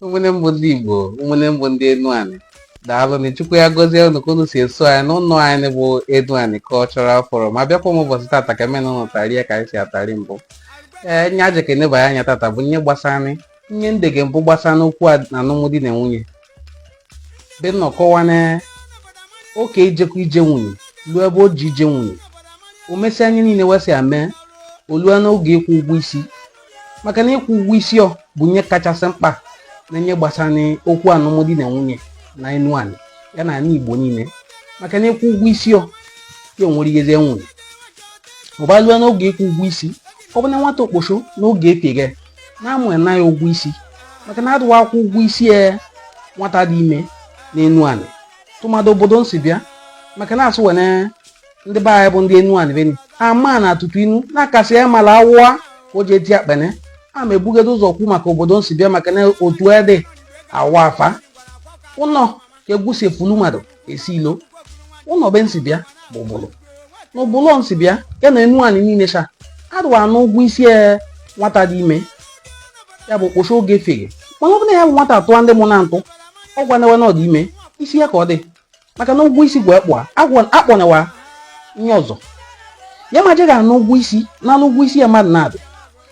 ụmụnne m bụ ndị Igbo ụmụnne m bụ ndị Enuani daalụ nụ Chukwu ya gọzie unu ka unu si eso anyị n'ụlọ anyị bụ Enuani Cultural Forum abịakwa m ụbọchị tata ka mena ụnụ tarie ka anyị si atari mbụ ee ihe a ja ka enebanye anya tata bụ ihe gbasara ihe n dege mbụ gbasa n'okwu alụmdi na nwunye be n nọ kọwa na okei jekọ ije nwunye ruo ebe o ji ije nwunye o mesịa ihe niile wa sị ya mee o lue n'oge ịkwụ ụgwọ isi maka na ịkwụ ụgwọ isi ọ bụ ihe kachasị mkpa na ihe gbasara n'okwu alụmdi na nwunye na Enuani ya na ala Igbo niile maka na ịkwụ ụgwọ isi ọ ya onwere ihe eze nwunye ọ balue n'oge ịkwụ ụgwọ isi ọ bụ na nwata okposo n'oge epieghe na-amụ ya na ya ụgwọ isi maka na adụwa akwụ ụgwọ isi ya e, nwata dị ime n'Enuani tụmadụ obodo n si bịa maka na asụ wene ndị be anyị bụ ndị Enuani beni ama na atụtụ inu na-akasị ya mala awụwa ka o ji eti akpene a ma ebugodo ụzọ kwu maka obodo n si bịa maka na otu ede awa afa ụnọ ka egwu si efulu mmadụ esi ilo ụnọ be n si bịa bụ Ubulu na Ubulu n si bịa ya na Enuani niile cha adụwa ana ụgwọ isi e nwata dị ime ya bụ okposo oge feghe mana ọ bụ na ya bụ nwata atụwa ndị mụ a ntụ ọ gwana wa na ọ dị ime isi ya ka ọ dị maka na ụgwọ isi gwee kpụa akpọnyewa ihe ọzọ ya ma jeghị anụ ụgwọ isi na anụ ụgwọ isi ya mmadụ na-adị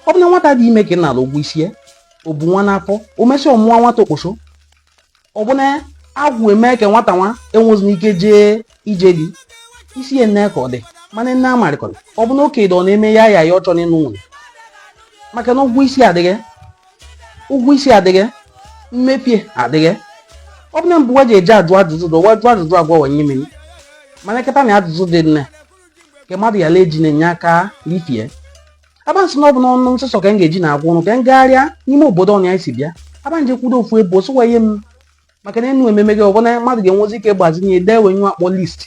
ọ bụ na nwata dị ime ka ị na-ala ụgwọ isi ya o bu nwa n'afọ o mesịa ọ mụwa nwata okposo ọ bụ na agwụ eme ka nwata nwa enwezina ike jee ije di isi ya nne ka ọ dị mana nne amarịkọrọ ọ bụ na okenye ọ na-eme ya ya ya ọ chọrọ ịnụ nwunye maka na ụgwọ isi adịghị ụgwọ isi adịghị mmepie adịghị ọ bụ na mbụ wa ji eje ajụ ajụjụ dụ wa jụ ajụjụ a gwa wa ihe mere mana kịta na ajụjụ dị nne nke mmadụ ya lee ji na-enye aka rifie abansị na ọ bụ n'ọnụ n sọsọ ka m ga-eji na-agwa ụnụ ka m gagharịa n'ime obodo ọnya anyị si bịa abanje kwudo ofu ebe osụwa ihe m maka na enu ememe gị ọ bụ na mmadụ ga-enwezi ike gbazinye dee wee ihe a kpọ list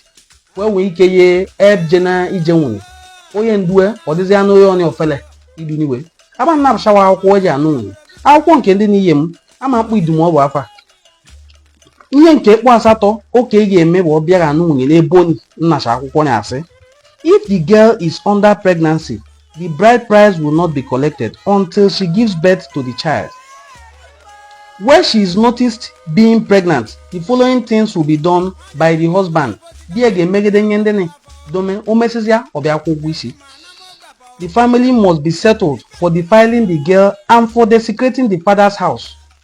wee nwee ike ye ebje na ije nwunye onye ndue ọ dịzị anụ onye ọnya ofele iduniwe abanna abụchawa akwụkwọ eji anụ nwunye akwụkwọ nke ndị n'ihe m ama mkpụ idumu ọ bụ afa ihe nke kpọ asatọ okei ga-eme bụ ọ bịa anụ nwunye n'ebe onye nnacha akwụkwọ ya asị if the girl is under pregnancy the bride price will not be collected until she gives birth to the child where she is noticed being pregnant the following things will be done by the husband di ya ga-emegide ihe ndị dome o mesịsịa ọ bịa kwụ ụgwọ isi the family must be settled for defiling the girl and for desecrating the father's house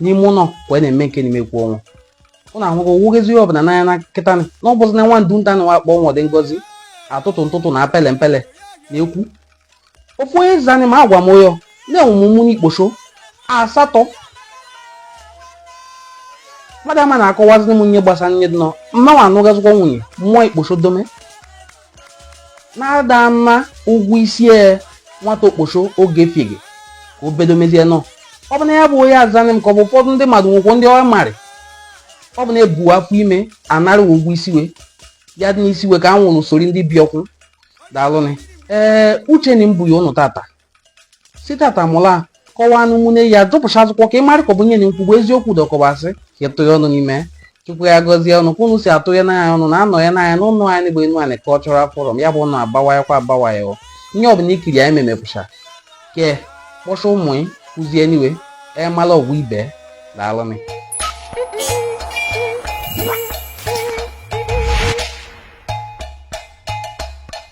n'ime ụnọ wee na-eme nke n'ime kwu ọnwa ụnụ ahụghị owughezi ihe ọbụla n'anya na nkịta na ọ bụzi na nwa ndu nta na wakpọ nwa dị ngozi atụtụ ntụtụ na apele mpele na ekwu ofu onye zanị m agwa m ụyọ na enwe m ụmụnne ikposo asatọ mmadụ ama na-akọwazi m ihe gbasara ihe dị nọ mụ nwa anụghazikwa nwunye mụọ ikposo dome na ada ana ụgwọ isi e nwata okposo oge fiege ka o bedo mezie nọ ọ bụ na ya bụ onye zanị m ka ọ bụ ụfọdụ ndị mmadụ nwekwo ndị ọ marị ọ bụ na ebu afọ ime anara ụgwọ isi we ya dị n'isi we ka a nwụrụ sorry ndị biko daalụnị ee uche na mbụ ya ụnụ tata si tata mụ na kọwaa n'ụmụnne ya dụpụcha azụkwọ ka ị mara ka ọ bụ nye na nkwugbu eziokwu dọkọbasị ka ịtụ ya ọnụ n'ime Chukwu ya gọzie ụnụ ka unu si atụ ya n'anya ụnụ na anọ ya n'anya n'ụlọ anyị bụ Enuani Cultural Forum ya bụ ụnụ agbawayakwa agbawaya o ihe ọbụla ikiri anyị memepụcha ke kpọcha ụmụ ị kụzie niwe emala ọgwụ ibe daalụnị